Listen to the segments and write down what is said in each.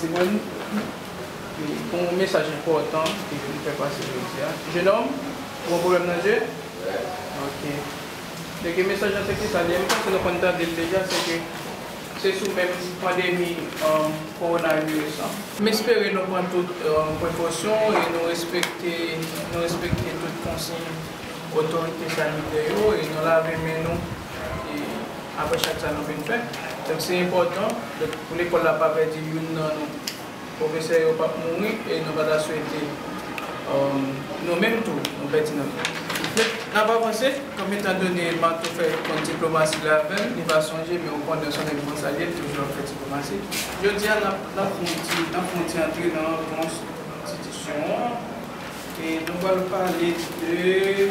Timoun, Pou yon mesaj enpòtan ke yo vin fè pase jodi a. Jenom, Ou gen pwoblèm nan je? Ok. Se ke mesaj la se ki sa li ye? M panse nou konn tande l deja, se ke se sou menm pandemi kowonaviris lan. M espere nou pran tout prekosyon e nou respekte nou respekte tout konsiy otorite sanitè yo e nou lave men nou e. apre chak sa nou fin fè. Donk se enpòtan pou lekòl la pa pèdi youn nan nou. Pwofesè yo p ap mouri e nou pa ta swete nou menm tou nou pèdi nan nou. Men, n ap avanse kòm etan done Marto fè kont diplomasi la avè m, li pa sonje men ou konnen l s on nèg Monsalye, l toujou ap fè diplomasi. Jodi a, n ap fè yon ti antre nan anfans enstitisyon an e nou pral pale de.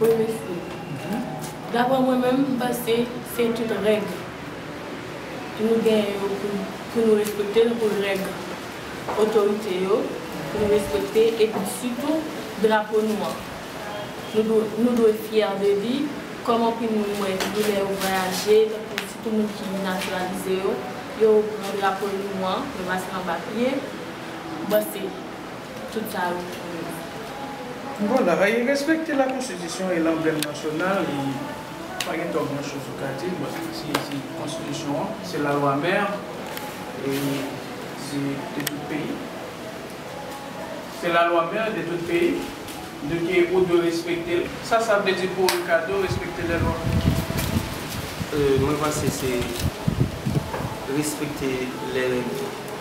Wi mesye. Daprè mwen menm m panse se tout règ nou genyen yo pou nou respekte l pou règ otorite yo pou nou respekte epi sitou drapo nou an nou dwe fyè de li kòm anpil moun m wè sitou lè yo vwayaje tankou sitou moun ki natiralize yo yo pran drapo nou an yo pase l anba pye m panse. Tout sa yo pou yo menm. Vwala, e respekte la konstitisyon e lanblèm nasyonal e pa gen twòp gran choz ou ka di bòt se se konstitisyon an, se la lwa mèr e se de tout peyi. Se la lwa mèr de tout peyi de ke ou dwe respekte l. Sa sa vle di pou Ricardo respekte lè lwa? Mwen panse se respekte lè règ.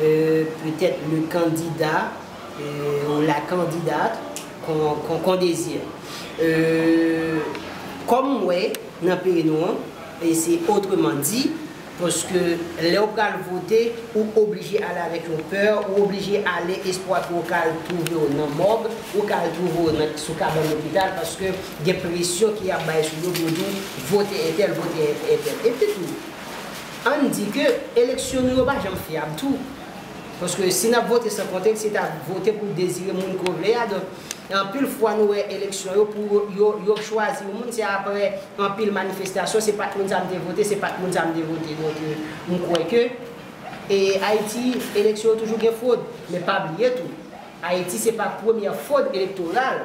peut-être le candidat ou la candidate qu'on désire kòm m wè nan peyi nou an se autrement dit paske lè ou pral vote ou oblije ale avèk yon pè ou oblije ale espwa ke ou ka al twouve w nan mòg ou ka al twouve w sou kabann lopital paske gen presyon ke y ap bay sou yo pou yo di w vote entèl vote entèl epitou Ann di ke eleksyon nou yo pa janm fyab tou. Paske si n ap vote san konte, se ta vote pou dezire moun ke w vle a. Donk, anpil fwa nou wè eleksyon yo, pou yo yo chwazi yon moun, se aprè anpil manifestasyon, se pa t moun sa a m te vote, se pa t moun sa a m te vote. Donk, m kwè ke e Ayiti, eleksyon yo toujou gen fwod. Men pa bliye tou, Ayiti se pa premyè fwod elektoral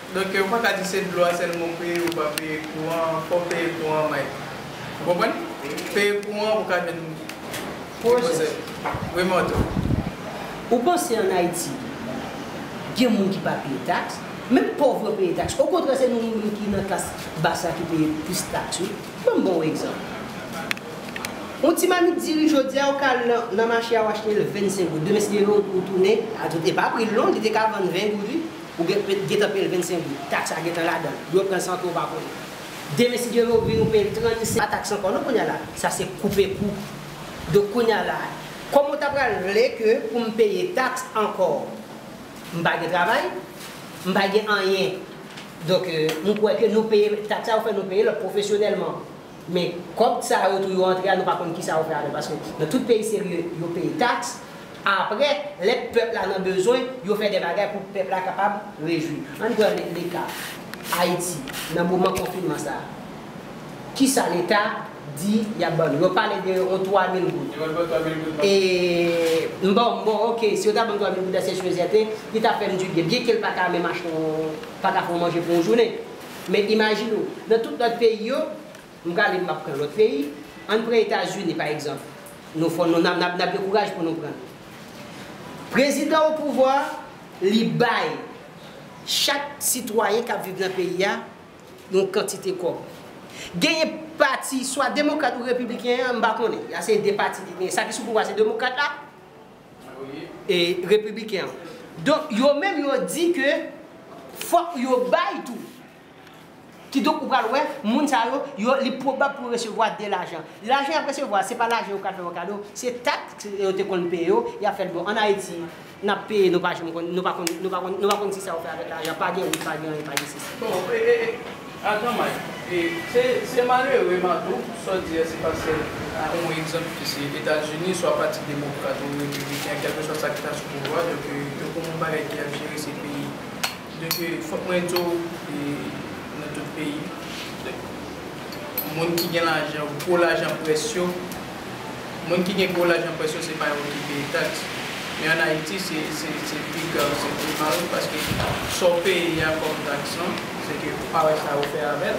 Donk yo paka di se dlo a sèlman ou peye ou pa peye kouran an fòw peye kouran an Mike ou konprann peye kouran an pou ka jwenn pwojè wi Martou. Ou panse an Ayiti gen moun ki pa peye tax? Menm pòv yo peye tax. Okontrè se nou moun ki nan klas bas la ki peye plis tax wi. Banm baw egzanp. Yon ti mamit diri jodi a ou ka al nan mache a ou achte l 25 goud. Demen si gen yon ou tounen a tout e pa pril non li te ka vann 20 goud wi. Ou gen pe, gentan peye l 25 goud. Taks la gentan ladan l. Yo pran l san ke w pa konnen. Demen si Dye vle ou vini ou peye l 35. Pa taks ankò non kounye a la. Sa se koupe kou. Donk kounye a la. Kòman w ta pral vle ke pou m peye taks ankò? M pa gen travay. M pa gen anyen. Donk, m kwè ke nou peye taks sa yo fè nou peye lòt pwofesyonèlman. Men kòb sa yo tou yo antre a nou pa konn kisa yo fè avèl paske nan tout peyi serye yo peye taks aprè lè pèp la nan bezwen yo fè de bagay pou pèp la kapab rejwi ann pran leka ayiti nan moman konfinman sa kisa leta di yap ban nou yo pale de yon 3 mil goud e m baw m baw ok si yo ta banm 3 mil goud la se sou rezèv e li ta fèm du byen byen kel paka menm achte yon paka fè yon manje pou yon jounen. Men imajine ou, nan tout lòt peyi yo, m prale m ap pran lòt peyi, ann pran Etazini pa egzanp, nou fò nou nan nan gen kouraj pou nou pran l. Prezidan opouvwa a, li bay chak sitwayen k ap viv nan peyi a yon kantite kòb. Genyen pati swa demokrat ou repibliken an, m pa konnen, la se 2 pati ki genyen, sa ki sou pouvwa se demokrat la, e repibliken an. Donk yo menm yo di ke fòk yo bay tou. Kidonk ou pral wè moun sa yo, yo li pwobab pou yo resevwa de lajan. Lajan y ap resevwa se pa lajan yo pral fè yo kado, se taks yo te konn peye yo, y ap fè l bon. An Ayiti n ap peye nou pa janm konn, nou pa konn, nou pa konn, nou pa konn si sa yo fè avèk lajan, pa gen wout, pa gen anyen, pa gen sesi. A gran may. Se malere man tou, sa w di a se pasel a. Bon yon egzanp ki se Etazini, swa pati demokrat ou repibliken, kèlkeswa sa ki ta sou pouvwa, donk yo konn yon bagay ki ap jere se peyi. Donk fòk mwen di w nan tout peyi, moun ki gen lajan, gwo lajan près yo. Moun ki gen gwo lajan pwès yo se pa yo ki peye taks. Men an Ayiti se se pi grav, se pi mal paske sa w peye a kòm taks lan, se ke ou pa wè sa yo fè avè l.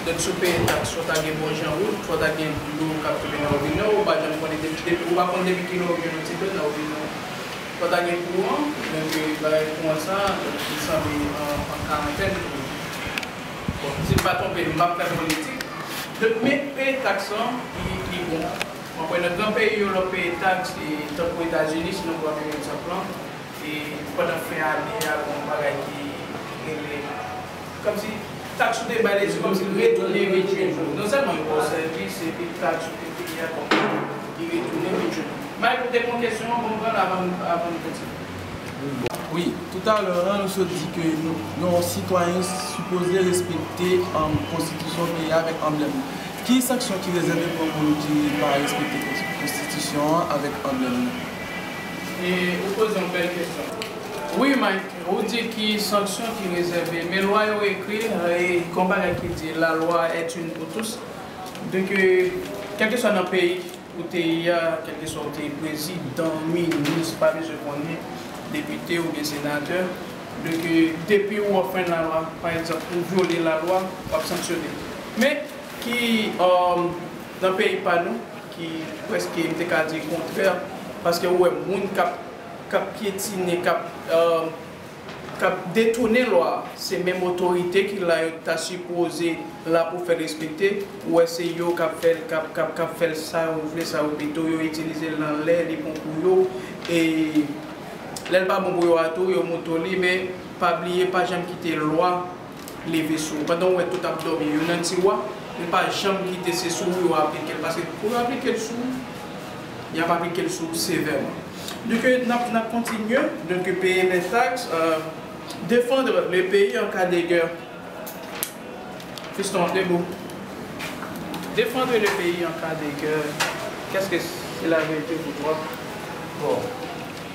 Donk si w peye taks fò w ta gen bon jan wout, fò w ta gen dlo k ap koule nan wobinè w, ou pa janm konnen depi depi ou pa konn depi ki lè ou jwenn yon ti dlo nan wobinè w. Fò w ta gen kouran, men ke bagay kouran sa li sanble an karantèn pou nou. Bon si m pa twonpe m pap fè politik Don men peye tax lan li bon mwen kwè nan gran peyi yo lè w peye tax tankou etazini si nou pran menm egzanp lan e pandan fen ane a gen yon bagay ki rele kòmsi tax ou te bay leta se kòmsi l retounen retounen pou ou non sèlman yo ba w sèvis epi tax ou te peye a kòmsi li retounen retounen m al pote m yon kesyon bon m pran l avan m avan m kontinye. Wi, toutalè an nou sot di ke yon sitwayen sipoze respekte konstitisyon peyi a avèk anblèm li. Ki sanksyon ki rezève pou yon moun ki pa respekte konstitisyon an avèk anblèm li? E ou poze yon bèl kesyon. Wi Mike, ou di ki sanksyon ki rezève, men lwa yo ekri, gen yon bagay ki di la loi est une pour tous, de ke kèlkeswa nan peyi, Ou te ya kelkeswa ou te ye prezi dan minis pa bezwen konnen depite ou byen senatè de ke depi ou anfren la lwa pa egzanp ou vyole la lwa wap sanksyone men ki nan peyi pa nou ki preske m te ka di kontrè paske ou wè moun kap kap pyetine kap kap detounen lwa se menm otorite ki la yo ta sipoze la pou fèl respekte ou wè se yo kap fèl kap kap kap fèl sa yo vle sa yo vle tou yo itilizel nan lè li bon pou yo e lèl pa bon pou yo a tou yo mouto li men pa bliye pa janm kite lwa leve sou ou pandan ou wè tout ap dòmi yo nan tiwa yo pa janm kite se sou ou yo aplikel paske pou yo aplikel sou ou yap aplikel sou ou sevèman. Di ke nap nap kontinye de ke peye les taxes euh defendre le pays en cas de guerre fiston ap de bou defendre le pays en cas de guerre qu'est ce que cela veut dire pour toi bon.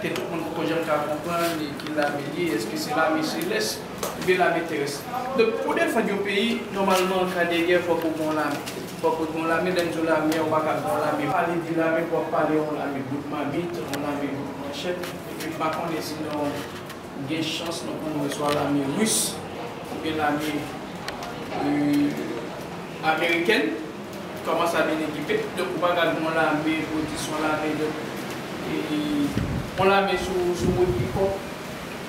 ke tout moun poko janm ka konprann e ki lame li ye, eske se lame selès oubyen lame terès. Donk pou w defann yon peyi, nòmalman an ka de gè fòk ou gen yon lame. Fòk ou gen yon lame, lè m di w lame an ou pa ka gen yon lame, pa vle di lame pou w ap pale yon lame bout mamit, yon lame bout manchèt, epi m pa konnen si nan yon. Ou gen chans mwen konn wè swa lame ris ou byen lame amerikèn kòman sa byen ekipe donk ou pa gad yon lame pou w di son lame donk yon lame sou wout pikòp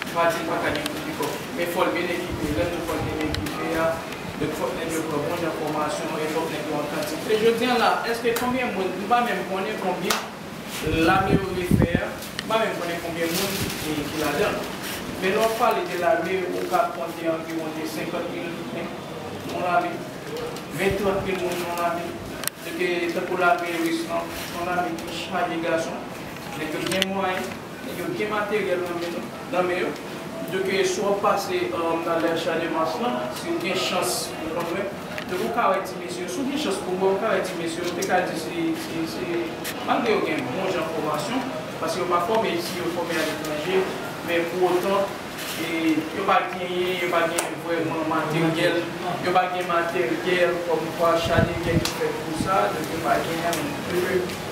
m pa di l pa ka gen kout pikòp men fò l byen ekipe lè nou fò l byen ekipe a donk fòk nèg yo pran bon jan fòmasyon e fòk nèg yo an kantite e jodi an la èske konbyen moun m pa menm konnen konbyen Lame yo refè a, m pa menm konnen konbyen moun ki ladan l. Men lè w ap pale de lame, ou ka konte anviwon de 50 mil nèg nan yon lame, 20, 30 mil moun nan yon lame. Se te tankou lame ris lan, se yon lame ki chaje gason, nèg yo gen mwayen. Nèg yo gen materyèl nan men nou, nan men yo. Pito ke si wap pase nan lè Champ-de-Mars lan, si ou gen chans ou konn wè, pito ke ou ka wè ti mesye yo, si ou gen chans pou wè, ou ka wè ti mesye yo, ou te ka di se, se, se, malgre yo gen bon jan fòmasyon, paske yo pa fòme isi, yo fòme a letranje, men pou otan, e, yo pa genyen, yo pa gen vrèman materyèl, yo pa gen materyèl kòmkwa Schadinger te fè kou sa, donk yo pa genyen, men, pito ke.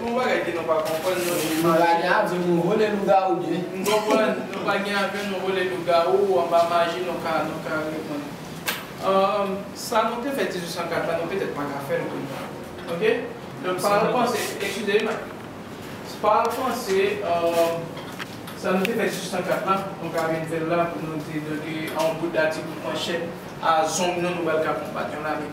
Bon bagay ke nou pa konprann non cheri Machè. Nou pa gen aven nou vole lougawou byen. M konprann, nou pa gen aven nou vole lougawou anba maji nou ka nou ka reponn Humm sa nou te fè 1804 la nou petèt pa ka fèl kounya ok donk pa al panse eskize wi Mike pa al panse Humm sa nou te fè 1804 la nou ka vin fèl la pou nou di donke a yon bout dati kout manchèt a zong nou nou pral ka konbat yon lame.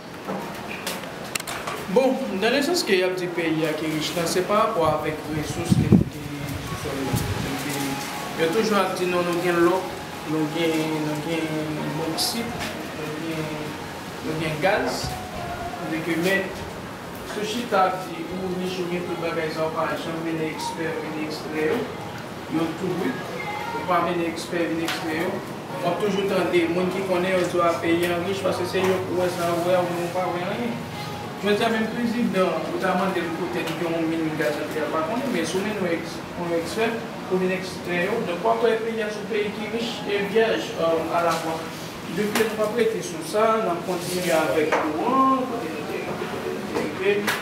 Bon, nan le sans ke yap di peyi a ki rich lan se pa rapò avèk resous ke nou gen sou sòl la. Epi yo toujou ap di nou nou gen lò, nou gen nou gen boksit, nou gen nou gen gaz, tandis ke men sou chita ap di ou rich ou gen tout bagay sa ou pa janm mennen ekspè vini ekstrè yo. Yo tou wi. Ou pa mennen ekspè vin eksplike yo. Wap toujou tande moun ki konnen yo di w a peyi an rich paske se yo pou wè sa yo wè ou menm ou pa wè anyen. Jodi a menm prezidan ou ta mande l kote li gen yon min gaz yo di a l pa konnen men si w mennen yon ekspè pou vin eksplike yo donk wap wè peyi a se yon peyi ki rich e vyèj a la fwa. Depi lè nou pap rete sou sa nap kontinye avèk kouran kote nou te rive.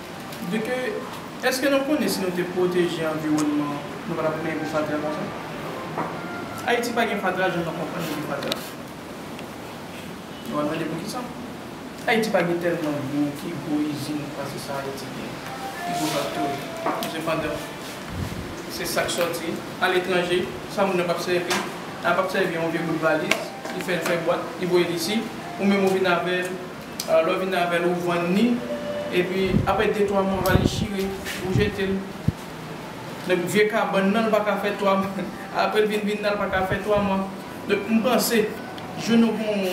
De ke, eske nou konnen si nou te pwoteje anviwònman an, nou pa t ap gen gwo fatra konsa? Ayiti pa gen fatra jan nou konprann li gen fatra. Nou va mande poukisa? Ayiti pa gen tèlman dlo ki gwo izin pase sa Ayiti gen, ki gwo faktori. Men sepandan, se sa k sòti aletranje, sa moun nan p ap sèvi, a p ap sèvi yon vye bout valiz, li fè l fè bwat, li voye l isi, ou menm ou vin avè l. Lè w vin avè l ou vann ni epi aprè de twa mwa va li chire ou jete l donk vye kabann nan l pa ka fè twa mwa aprè l vin vin nan l pa ka fè twa mwa donk m panse jou nou gon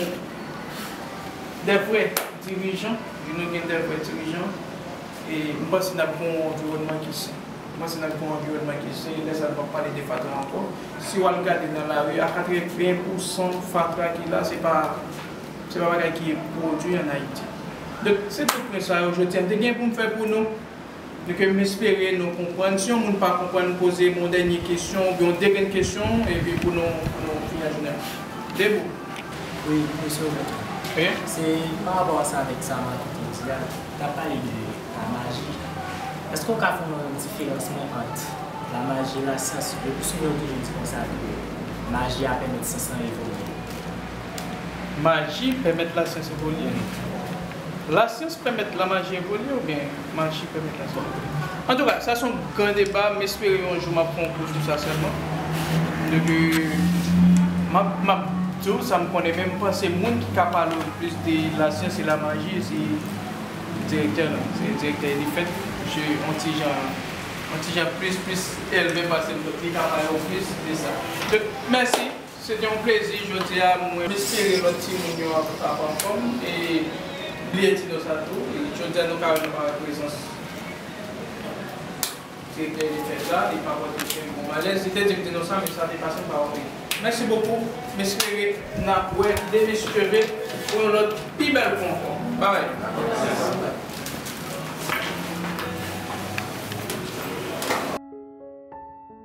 de vrè dirijan jou nou gen de vrè dirijan e m panse n ap gon w anviwònman ki sen m panse n ap gon w anviwònman ki sen e lè sa n p ap pale de fatra ankò si w al gade nan lari a 80 pousan fatra ki la se pa. Se pa bagay ki pwodwi an Ayiti. Donk, se tout pwen sa yo jodi a m te gen pou m fè pou nou e ke m espere nou konprann. Si yon moun pa konprann, m poze m yon dènye kesyon oubyen yon degenn kesyon e pi pou nou fini ak jounen an. Debou? Wi, Mesye Obed. Oke. Se pa rapò a sa avèk sa Marky te di a, li ta pale de lamaji. Èske ou ka fè yon diferansman ant lamaji e lasyans? Lepi souvan yo toujou di konsa ke maji a pèmèt syans lan evolye. Maji pèmèt lasyans evolye? Lasyans pèmèt lamaji evolye oubyen maji pèmèt lasyans evolye? Antouka, sa son gran deba, m espere yon jou m ap fè yon kou sou sa sèlman. Depi m ap m ap di w sa m konnen men m panse moun ki ka pale w le plis de lasyans e lamaji se direktè nou an, se direktè Elifèt. Misye on ti jan on ti jan plis plis elve pase m donk li ka pale w plis de sa. Donk mèsi. Se te yon plezi jodi a mwen. M espere lòt timoun yo ap ap anfòm e bliye di nou sa tou jodi a nou ka wè nou pa wè prezans Direktè Elifèt la li pa pote kèm yon malèz li te di m di nou sa men sa te pase m pa wè li mèsi bokou m espere n ap wè Denis Cheve pou yon lòt pi bèl kou ankò babay.